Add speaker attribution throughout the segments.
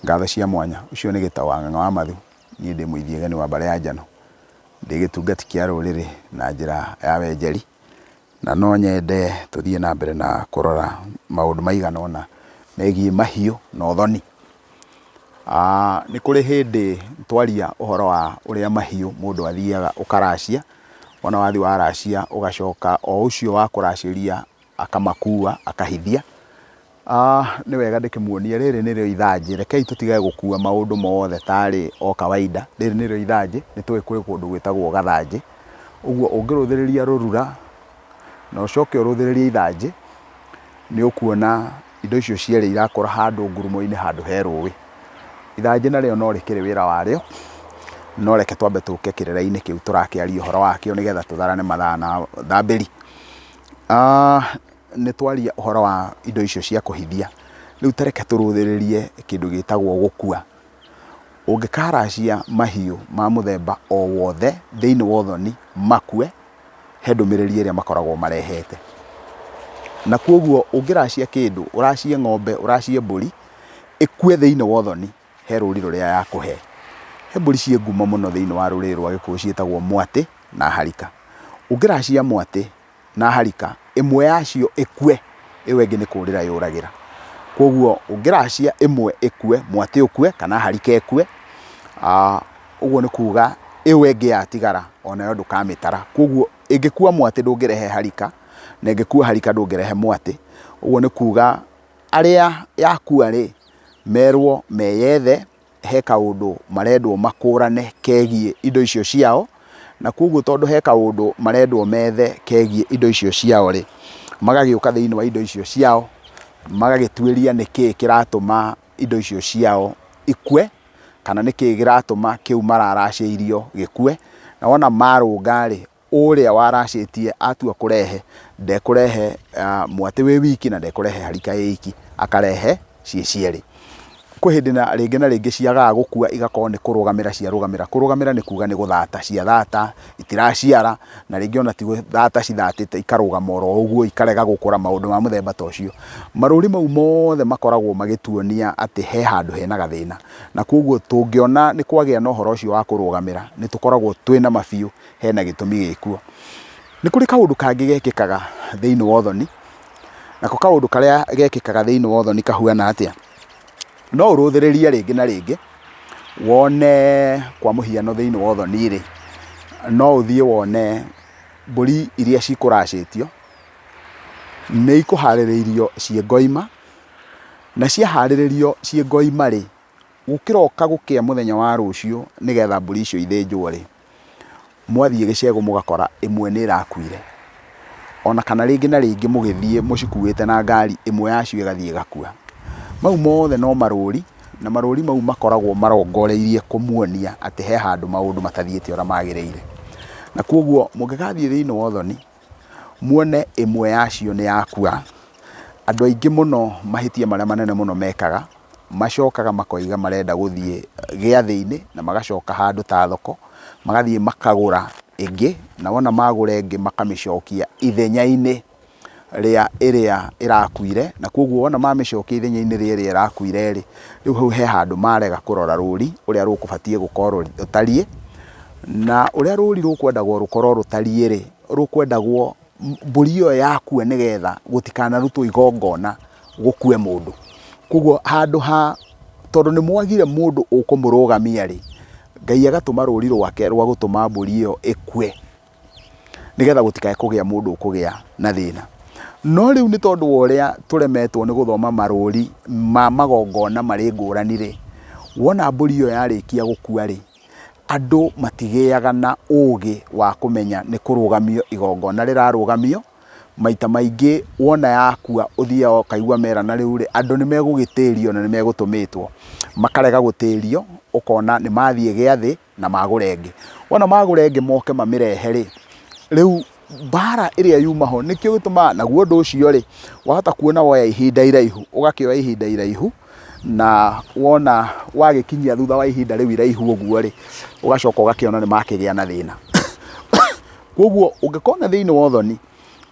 Speaker 1: Ngatho cia mwanya. Ũcio nĩ Gĩtaũ wa Ng'ang'a wa Mathu. Niĩ ndĩ Mũithiegeni wa Mbare ya Njano. Ndĩ gĩtungati kĩa rũrĩrĩ na njĩra ya wenjeri, na no nyende tũthiĩ na mbere na kũrora maũndũ maigana ũna megiĩ mahiũ na ũthoni. Nĩ kũrĩ hĩndĩ twaria ũhoro wa ũrĩa mahiũ mũndũ athiaga ũkaracia, wona wathiĩ waracia ũgacoka o ũcio wakũracĩria Akamakua, akahithia. Ah, nĩ wega ndĩkĩmuonie, rĩrĩ nĩrĩo ithanjĩ. Rekei tũtige gũkua maũndũ mothe ta arĩ o kawaida. Rĩrĩ nĩrĩo ithanjĩ, nĩ tũĩ kwĩ kũndũ gwĩtagwo gathanjĩ. Ũguo ũngĩrũthĩrĩria rũrura, na ũcoke ũrũthĩrĩrie ithanjĩ, nĩ ũkuona indo icio cierĩ irakũra handũ ngurumo-inĩ handũ he rũĩ. Ithanjĩ narĩo no rĩkĩrĩ wĩra warĩo, no reke twambe tũke kĩrĩra-inĩ kĩu tũrakĩaria ũhoro wakĩo nĩgetha tũtharane mathaa na thambĩri. Nĩtwaria ũhoro wa indo icio cia kũhithia, rĩu ta reke tũrũthĩrĩrie kĩndũ gĩtagwo gũkua. Ũngĩkaracia mahiũ ma mũthemba o wothe thĩiniĩ wa ũthoni makue, he ndũmĩrĩri ĩrĩa makoragwo marehete. Na kuoguo ũngĩracia kĩndũ, ũracie ng'ombe, ũracie mbũri, ĩkue thĩiniĩ wa ũthoni. he rũri rũrĩa yakũhe. He mbũri ciĩ ngumo mũno thĩiniĩ wa rũrĩrĩ rwa gĩkũyũ ciĩtagwo mwatĩ na harika. Ũngĩracia mwatĩ na harika, ĩmwe yacio ĩkue, ĩyo ĩngĩ nĩ kũrĩra yũragĩra. Koguo ũngĩracia ĩmwe ĩkue, mwatĩ ũkue kana harika ĩkue, ũguo nĩ kuga ĩyo ĩngĩ yatigara onayo ndũkamĩtara. Koguo ĩngĩkua mwatĩ ndũngĩrehe harika, na ĩngĩkua harika ndũngĩrehe mwatĩ. Ũguo nĩ kuga arĩa yakua-rĩ, merwo meyethe, he kaũndũ marendwo makũrane kegiĩ indo icio ciao, na kogwo tondũ he kaũndũ marendwo methe kegiĩ indo icio ciao rĩ, magagĩũka thĩiniĩ wa indo icio ciao, magagĩtuĩria nĩkĩĩ kĩratũma indo icio ciao ikue, kana nĩkĩĩ kĩratũma kĩu mararacĩirio gĩkue, na wona marũnga rĩ. Ũrĩa waracĩtie atua kũrehe, ndekũrehe mwatĩ wĩ wiki na ndekũrehe harika ĩ iki, akarehe ciĩ cierĩ. Kwĩ hĩndĩ na rĩngĩ na rĩngĩ ciagaga gũkua igakorwo nĩ kũrũgamĩra ciarũgamĩra. Kũrũgamĩra nĩ kuga nĩ gũthata ciathata, itiraciara, na rĩngĩ ona ti gũthata cithatĩte ikarũgama oro ũguo ikarega gũkũra, maũndũ ma mũthemba ta ũcio. Marũri mau mothe makoragwo magĩtuonia atĩ he handũ hena gathĩna. Na kũguo tũngĩona nĩ kwagĩa na ũhoro ũcio wa kũrũgamĩra, nĩ tũkoragwo twĩna ma biũ hena gĩtũmi gĩkuo. Nĩ kũrĩ kaũndũ kangĩ gekĩkaga thĩiniĩ wa ũthoni, nako kaũndũ karĩa gekĩkaga thĩiniĩ wa ũthoni kahuana atĩa? No ũrũthĩrĩrie rĩngĩ na rĩngĩ wone kwa mũhiano thĩiniĩ wa ũthoni rĩ, no ũthiĩ wone mbũri iria cikũracĩtio nĩ ikũharĩrĩirio ciĩ ngoima, na ciaharĩrĩrio ciĩ ngoima rĩ, gũkĩroka gũkĩa mũthenya wa rũciũ nĩgetha mbũri icio ithĩnjwo rĩ, mwathiĩ gĩcegũ mũgakora ĩmwe nĩ ĩrakuire, ona kana rĩngĩ na rĩngĩ mũgĩthiĩ mũcikuĩte na ngari ĩmwe yacio ĩgathiĩ ĩgakua. Mau mothe no marũri, na marũri mau makoragwo marongoreirie kũmuonia atĩ he handũ maũndũ matathiĩte ũrĩa magĩrĩire. Na kwoguo mũngĩgathiĩ thĩiniĩ wa ũthoni, muone ĩmwe yacio nĩ yakua. Andũ aingĩ mũno mahĩtia marĩa manene mũno mekaga, macokaga makoiga marenda gũthiĩ gĩathĩ-inĩ na magacoka handũ ta thoko, magathiĩ makagũra ĩngĩ, na wona magũra ĩngĩ makamĩcokia ithenya-inĩ rĩa ĩrĩa ĩrakuire, na kũguo wona mamĩcokia ithenya-inĩ rĩa ĩrĩa ĩrakuire-rĩ, rĩu hau he handũ marega kũrora rũri ũrĩa rũkũbatiĩ gũkorwo rũtariĩ. Na ũrĩa rũũri rũkwendagwo rũkorwo rũtariĩ-rĩ, rũkwendagwo mbũri ĩyo yakue nĩgetha gũtikanarutwo igongona gũkue mũndũ. Kwoguo handũ ha, tondũ nĩ mwagire mũndũ ũkũmũrũgamia-rĩ, Ngai agatũma rũũri rwake rwa gũtũma mbũri ĩyo ĩkue nĩgetha gũtikae kũgĩa mũndũ ũkũgĩa na thĩna. No rĩu nĩ tondũ wa ũrĩa tũremetwo nĩ gũthoma marũũri ma magongona marĩ ngũrani-rĩ, wona mbũri ĩyo yarĩkia gũkua-rĩ, andũ matigĩaga na ũgĩ wa kũmenya nĩ kũrũgamio igongona rĩrarũgamio, maita maingĩ wona yakua ũthiaga ũkaigua merana rĩu rĩ, andũ nĩ megũgĩtĩrio na nĩ megũtũmĩtwo, makarega gũtĩrio, ũkona nĩ mathiĩ gĩathĩ na magũra ĩngĩ. Wona magũra ĩngĩ moke mamĩrehe rĩ, rĩu mbara ĩrĩa yuma ho nĩkĩo gĩtũmaga naguo ũndũ ũcio rĩ wahota kuona woya ihinda iraihu ũgakĩoya ihinda iraihu na wona wagĩkinyia thutha wa ihinda rĩu iraihu ũguo rĩ ũgacoka ũgakĩona nĩ makĩgĩa na thĩna koguo ũngĩkona thĩinĩ wa ũthoni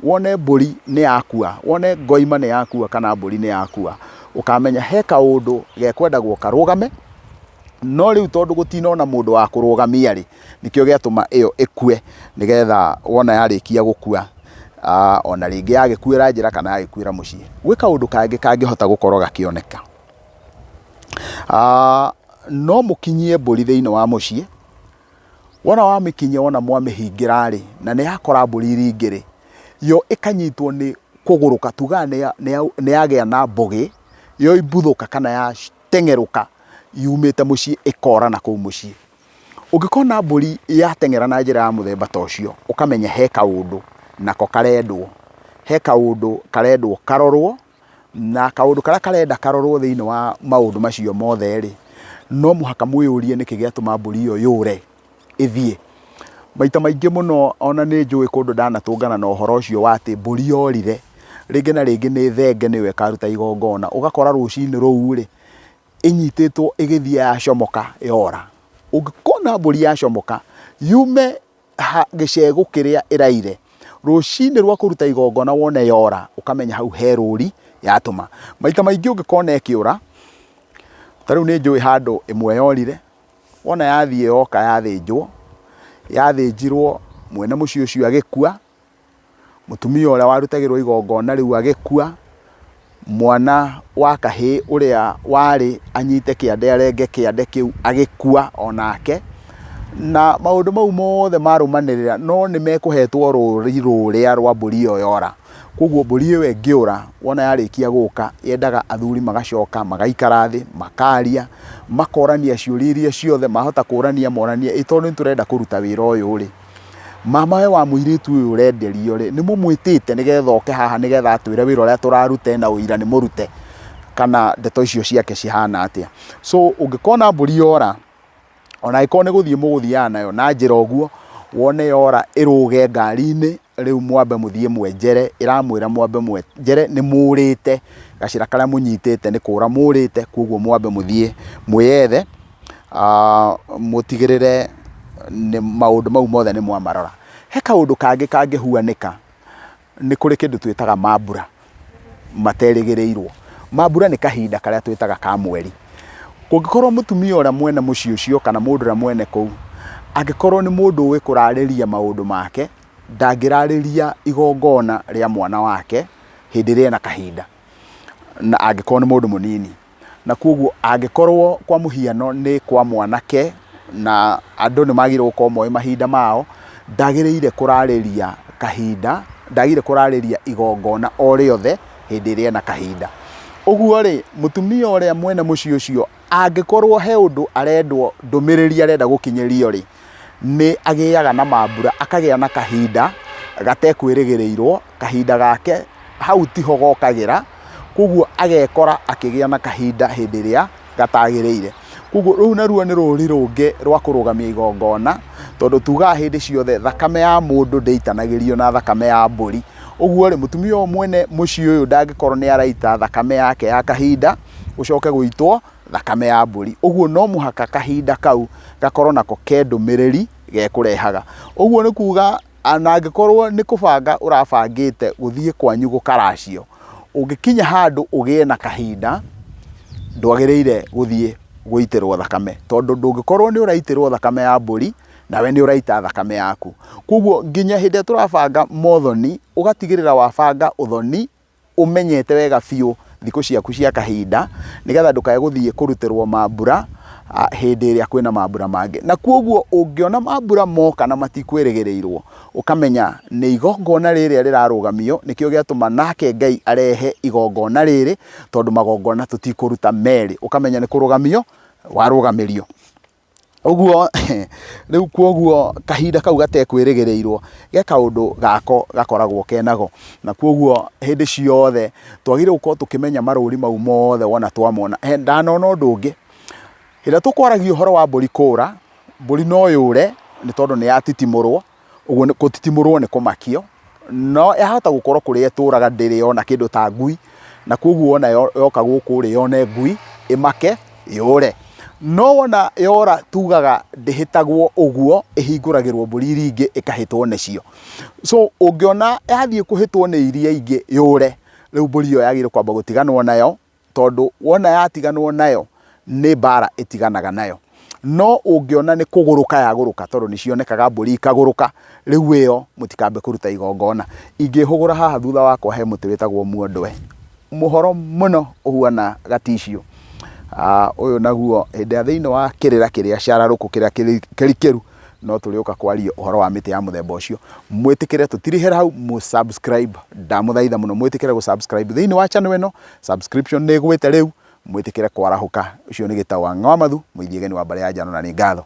Speaker 1: wone mbũri nĩ yakua wone ngoima nĩ yakua kana mbũri nĩ yakua ũkamenya he kaũndũ gekwendagwo karũgame no rĩu tondũ gũtinona mũndũ wa kũrũgamia rĩ nĩkĩo gĩatũma ĩyo ĩkue nĩgetha wona yarĩkia gũkua, ona rĩngĩ yagĩkuĩra njĩra kana yagĩkuĩra mũciĩ, gwĩ kaũndũ kangĩ kangĩhota gũkorwo gakĩoneka. No mũkinyie mbũri thĩiniĩ wa mũciĩ, wona wamĩkinyia wona mwamĩhingĩra-rĩ, na nĩyakora mbũri iria ingĩ-rĩ, yo ĩkanyitwo nĩ kũgũrũka, tugaga nĩyagĩa na mbũgĩ, yoimbũthũka kana yateng'erũka yumĩte mũciĩ ĩkora nakũu mũciĩ. Ũngĩkona mbũri yateng'era na njĩra ya mũthemba ta ũcio, ũkamenya he kaũndũ nako karendwo, he kaũndũ karendwo karorwo, na kaũndũ karĩa karenda karorwo thĩiniĩ wa maũndũ macio mothe rĩ, no mũhaka mwĩyũrie nĩkĩ gĩatũma mbũri ĩyo yũre ĩthiĩ. Maita maingĩ mũno ona nĩ njũĩ kũndũ ndanatũngana na ũhoro ũcio wa atĩ mbũri yorire, rĩngĩ na rĩngĩ nĩ thenge nĩyo ĩkaruta igongona, ũgakora rũcinĩ rũu rĩ, ĩnyitĩtwo ĩgĩthiĩ yacomoka yora. Ũngĩkona mbũri yacomoka yume gĩcegũ kĩrĩa ĩraire, rũcinĩ rwa kũruta igongona wone yora ũkamenya hau he rũri yatũma. Maita maingĩ ũngĩkona ĩkĩũra, ta rĩu nĩ njũĩ handũ ĩmwe yorire, wona yathiĩ yoka yathĩnjwo, yathĩnjirwo mwene mũciĩ ũcio agĩkua, mũtumia ũrĩa warutagĩrwo igongona rĩu agĩkua, mwana wa kahĩĩ ũrĩa warĩ anyite kĩande arenge kĩande kĩu agĩkua o nake, na maũndũ mau mothe marũmanĩrĩra no nĩ mekũhetwo rũri rũrĩa rwa mbũri ĩyo yora. Kũguo mbũri ĩyo ĩngĩũra wona yarĩkia gũka yendaga athuri magacoka magaikara thĩ makaria, makorania ciũria iria ciothe mahota kũrania moranie ĩ tondũ nĩ tũrenda kũruta wĩra ũyũ rĩ... Mama ũyũ wa mũirĩtu ũyũ ũrenderio rĩ, nĩ mũmwĩtĩte nĩgetha oke haha nĩgetha atwĩre wĩra ũrĩa tũraruta ena ũira nĩ mũrute kana ndeto icio ciake cihana atĩa. So ũngĩkona mbũri yora, ona angĩkorwo nĩ gũthiĩ mũgũthiaga nayo na njĩra ũguo, wone yora ĩrũge ngari-inĩ, rĩu mwambe mũthiĩ mwenjere, ĩramwĩra mwambe mwenjere nĩ mũrĩte, gacĩra karĩa mũnyitĩte nĩ kũra mũrĩte, kũguo mwambe mũthiĩ mwĩyethe mũtigĩrĩre maũndũ mau mothe nĩ mwamarora. He kaũndũ kangĩ kangĩhuanĩka, nĩ kũrĩ kĩndũ twĩtaga mambura materĩgĩrĩirwo. Mambura nĩ kahinda karĩa twĩtaga ka mweri. Kũngĩkorwo mũtumia ũrĩa mwene mũciĩ ũcio kana mũndũ ũrĩa mwene kũu angĩkorwo nĩ mũndũ ũĩ kũrarĩrĩria maũndũ make, ndangĩrarĩrĩria igongona rĩa mwana wake hĩndĩ ĩrĩa ena kahinda na angĩkorwo nĩ mũndũ mũnini. na kwoguo angĩkorwo kwa mũhiano nĩ kwa mwanake na andũ nĩ magĩrĩirwo gũkorwo moĩ mahinda mao, ndagĩrĩire kũrarĩria kahinda, ndagĩrĩire kũrarĩria igongona o rĩothe hĩndĩ ĩrĩa ena kahinda. Ũguo rĩ, mũtumia ũrĩa mwene mũciĩ ũcio angĩkorwo he ũndũ arendwo, ndũmĩrĩri arenda gũkinyĩrio rĩ, nĩ agĩaga na mambura, akagĩa na kahinda gatekwĩrĩgĩrĩirwo kahinda gake hau tiho gokagĩra, koguo agekora akĩgĩa na kahinda hĩndĩ ĩrĩa gatagĩrĩire. Koguo rũu naruo nĩ rũri rũngĩ rwa kũrũgamia igongona, tondũ tugaga hĩndĩ ciothe thakame ya mũndũ ndĩitanagĩrio na thakame ya mbũri. Ũguo rĩ, mũtumia ũyũ mwene mũciĩ ũyũ ndangĩkorwo nĩ araita thakame yake ya kahinda, gũcoke gũitwo thakame ya mbũri. Ũguo no mũhaka kahinda kau gakorwo nako ke ndũmĩrĩri gekũrehaga. Ũguo nĩ kuga... a- na angĩkorwo nĩ kũbanga ũrabangĩte gũthiĩ kwanyu gũkaracio, ũngĩkinya handũ ũgĩe na kahinda, ndwagĩrĩire gũthiĩ gũitĩrwo thakame, tondũ ndũngĩkorwo nĩ ũraitĩrwo thakame ya mbũri, nawe nĩ ũraita thakame yaku. Kũguo nginya hĩndĩ ĩrĩa tũrabanga mothoni, ũgatigĩrĩra wabanga ũthoni. ũmenyete wega biũ thikũ ciaku cia kahinda nĩgetha ndũkae gũthiĩ kũrutĩrwo mambura hĩndĩ ĩrĩa kwĩna mambura mangĩ. Na kwoguo ũngĩona mambura moka na matikwĩrĩgĩrĩirwo, ũkamenya nĩ igongona rĩrĩa rĩrarũgamio nĩkĩo gĩatũma nake Ngai arehe igongona rĩrĩ tondũ magongona tũtikũruta merĩ. Ũkamenya nĩ kũrũgamio warũgamĩrio. Ũguo rĩu kwoguo kahinda kau gatekwĩrĩgĩrĩirwo ge kaũndũ gako gakoragwo kenako. Na kwoguo hĩndĩ ciothe twagĩrĩirwo gũkorwo tũkĩmenya marũri mau mothe wona twamona. Ndanona ũndũ ũngĩ, hĩndĩ ĩrĩa tũkwaragia ũhoro wa mbũri kũũra, mbũri no yũre nĩ tondũ nĩ yatitimũrwo. Ũguo nĩ gũtitimũrwo nĩ kũmakio, no yahota gũkorwo kũrĩa ĩtũraga ndĩrĩ yona kĩndũ ta ngui, na koguo wona yoka gũkũ rĩ, yone ngui, ĩmake, yũre. No wona yora tugaga ndĩhĩtagwo ũguo, ĩhingũragĩrwo mbũri iria ingĩ ĩkahĩtwo nĩcio. So ũngĩona yathiĩ kũhĩtwo nĩ iria ingĩ yũre, rĩu mbũri ĩyo yagĩrĩirwo kwamba gũtiganwo nayo, tondũ wona yatiganwo nayo nĩ mbara ĩtiganaga nayo. No ũngĩona nĩ kũgũrũka yagũrũka tondũ nĩ cionekaga mbũri ikagũrũka, rĩu ĩyo mũtikambe kũruta igongona. Ingĩhũgũra haha thutha wakwa he mũtĩ wĩtagwo muondwe, mũhoro mũno ũhuana gaticiũ. Ũyũ naguo hĩndĩ ĩrĩa thĩinĩ wa kĩrĩra kĩrĩa cararũkũ kĩrĩa kĩrikĩru. no tũrĩũka kwaria ũhoro wa mĩtĩ ya mũthemba ũcio mwĩtĩkĩre tũtirĩhĩra hau mũ subscribe ndamũthaitha mũno mwĩtĩkĩre gũ subscribe thĩinĩ wa channel ĩno subscription nĩ ĩgwĩte rĩu mwĩtĩkĩre kwarahũka ũcio nĩ gĩtaũ wa ng'awamathu mũithiegeni wa mbarĩ ya njano na nĩ ngatho